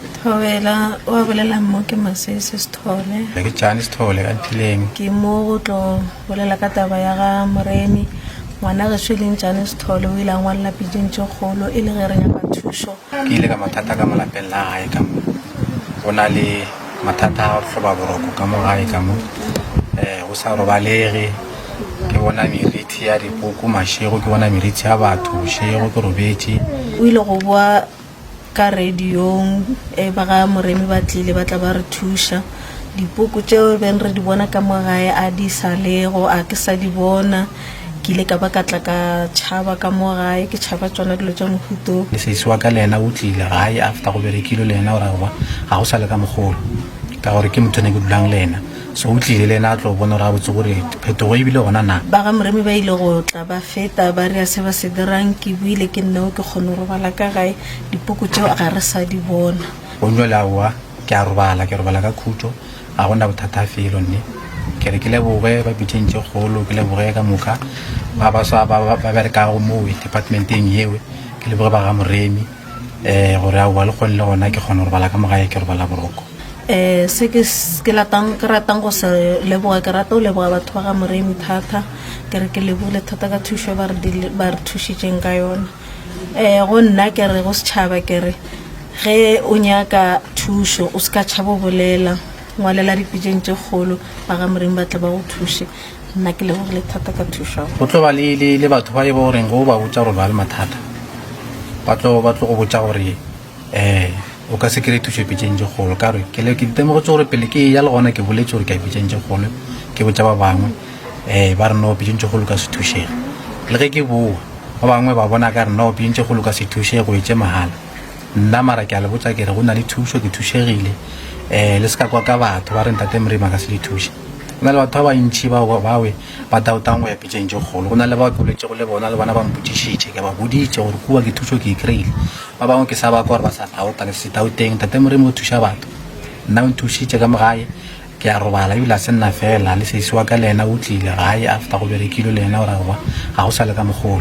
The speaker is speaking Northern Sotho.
Thobela o a bolela mo ke Masese Sithole. Ke Tšane Sithole ka Nthileng. Ke mo go tlo bolela ka taba ya ga Moremi. Ngwana geso e leng Tšane Sithole o ile a ngwalela piding tše kgolo e le ge re nyaka thušo. Ke ile ka mathata ka mo lapeng la gae ka mo. Go na le mathata a hloba boroko ka mo gae ka mo. Eh, go sa robalege. Ke bona merithi ya dikoko mašego, ke bona merithi ya batho bošego, ke robetše. O ile go boa Ka radiong e ba ga Moremi ba tlile ba tla ba re thuša. Dipoko tšeo beng re di bona ka mo gae a di sa lego a ke sa di bona. Ke ile ka ba ka tla ka tšhaba ka mo gae ke tšhaba tšona dilo tša mohuto o. Sesi wa ka le yena o tlile gae after go berekilwe le yena o re aowa ga go sa le ka mogolo ka gore ke motho ne ke dulang le yena. So o tlile le ena a tlo bona gore gabotse gore phetogo e bile gona na. Ba ga Moremi ba ile go tla ba feta, ba re, A se ba se dirang ke buile ke nna yo ke kgone go robala ka gae? Dipoko tšeo ga re sa di bona. Go bjale aowa, ke a robala, ke robala ka khutšo, ga go na bothata felo. Nne ke re ke leboge ba pitšeng tše kgolo, ke leboge ka moka ba baswa ba ba berekago mowe departmenteng yewe, ke leboge ba ga Moremi. um gore aowa le kgone le gona ke kgona go robala ka mogae ke robala boroko um se ke s- ke latang ke ratang go se leboga ke rata go leboga batho ba ga moremi thata ke re ke lebogile thata ka thušo e ba re dile- ba re thušitšeng ka yona um go nna ke re go setšhaba ke re ge o nyaka thušo o se ka tšhaba o bolela ngwalela dipitseng tše kgolo ba ga moremi ba tle ba go thuše nna ke lebogile thata ka thušo go tlo ba le le le batho ba e ba goreng go ba botsa gore ba le mathata ba tlo ba tlo go botsa gore eh o ka se kry thušo pitseng tse kgolo ka re ke le- ke ditemogetse gore pele ke ya le gona ke boletse gore ke ya pitseng tse kgolo ke botsa ba bangwe eh ba re no pitseng tse kgolo ka se thušega le ge ke boa ba bangwe ba bona ka re no pitseng tse kgolo ka se thušege go etse mahala nna mara ke a le botsa kere go na le thušo ke thušegile um le se ka kwa ka batho ba re ntate morima ka se le thuše Go na le batho ba bantši bao ba bawe ba dautang go ya pitšeng tše kgolo. Go na le bao ke boletšego le bona, le bona ba mpotšišitše. Ke ba boditše gore kua ke thušo ke e kry-ile. Ba bangwe ke sa ba kwa gore ba sa dauta, ke se se dauteng. Tate Morimo o thuša batho. Nna o nthušitše ka mo gae, ke a robala, ebile a se nna feela, le sesi wa ka le yena o tlile gae after go berekilwe le yena o re aowa, ga go sa le ka mogolo.